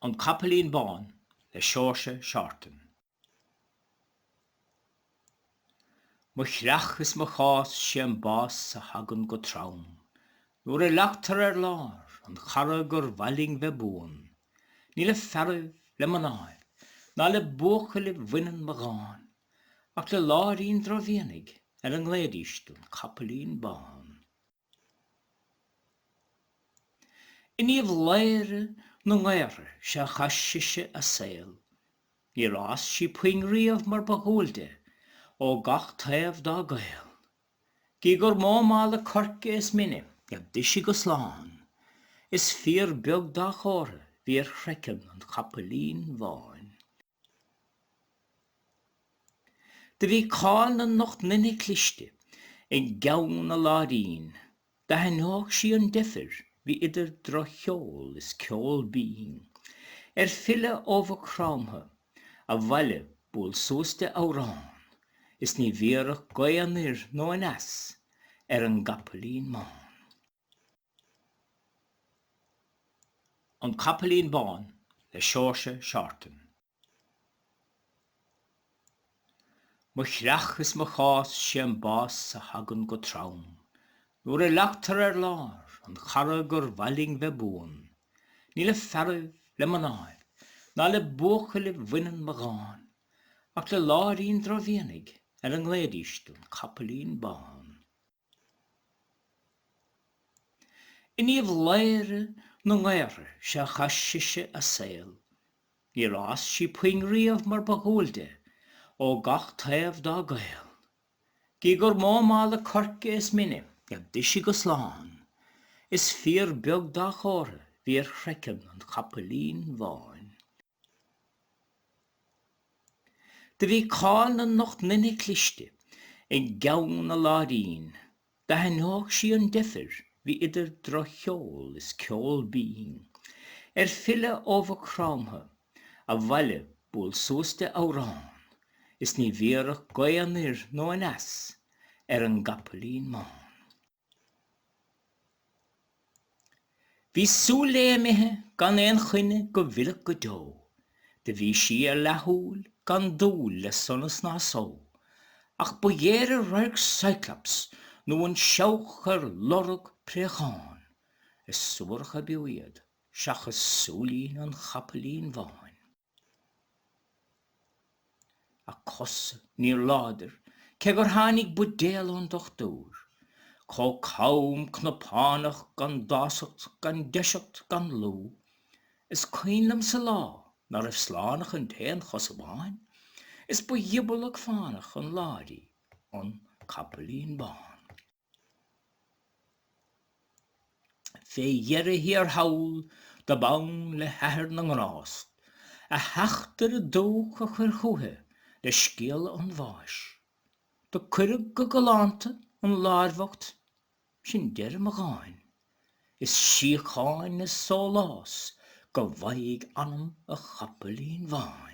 An Capaillín Bán le Seoirse Seartan. Mo chreach is mo chás 'sé an bás a thagann go trom Nuair a leagtar ar lár an chara gur mhaith linn bheith buan Ní le fearaibh, le mnáibh ná le buachaillí bhaineann mo dhán ach le láirín drochmhianaigh ar a nglaoidís An Capaillín Bán. In Uíbh Laoghaire na nGaorthaidh is ea a chaith sise a saol. Níor fhás sí puinn riamh mar ba dhual di, ó gach taobh dá gaol. Gidh gur mó mála coirce is mine a d'ith sí go slán, is fíor beag dá chomhartha bhí ar chraiceann an Chapaillín Bháin. Do bhí cáil na n-ocht nduine cliste i gceann na láirín. D'aithneodh sí an deifir bhí idir droch-cheol is ceol binn, ar filleadh ó Mhaigh Chromtha abhaile buail suas di amhrán is ní bhéarfadh gaoth anoir nó aneas ar an gcapaillín bán. An Capaillín Bán le Seoirse Seartan. Mo chreach is mo chás, sé an bás a thagann go trom, Nuair a leagtar ar lár an chara gur mhaith linn bheith buan, Ní le fearaibh, le mnáibh, ná le buachaillí bhaineann mo dhán, Ach le láirín drochmhianaigh ar a nglaoidís An Capaillín Bán. In Uíbh Laoghaire na nGaorthaidh is ea a chaith sise a saol. Níor fhás sí puinn riamh mar ba dhual di, ó gach taobh dá gaol. Gidh gur mó mála coirce is mine a d'ith sí go slán, is fíor beag dá chomhartha bhí ar chraiceann an chapaillín bháin. Do bhí cáil na n-ocht nduine cliste i gceann na láirín. D'aithneodh sí an deifir bhí idir droch-cheol is ceol binn, ar filleadh ó Mhaigh Chromtha abhaile buail suas di amhrán is ní bhéarfadh gaoth anoir nó aneas ar an gcapaillín bán. Bhí súil lé imithe gan aon choinne go bhfillfeadh go deo, Do bhí sí ar leathshúil gan dúil le sonas ná só, Ach ba ghéire radharc Cyclops nó an seabhac ar lorg préachán, Is suarach ab fhiú iad seachas súilín an chapaillín bháin. a cosa níor láidir cé gur tháinig buidéal ón dochtúir, chomh cam cnapánach gan dásacht gan deiseacht gan lúth, is cuimhin liomsa lá ná raibh slán ach an t-aon chos amháin, is ba ghiobalach fánach an láir í an capaillín bán. Fé dheireadh thiar thall, dob fhonn le hathair na ngrást, a theachtaire dubhach a chur chúithi le scéala an bháis. Do cuireadh go galánta an láir bhocht, sin deireadh mo dháin, is síocháin is sólás go bhfaighidh anam an chapaillín bháin.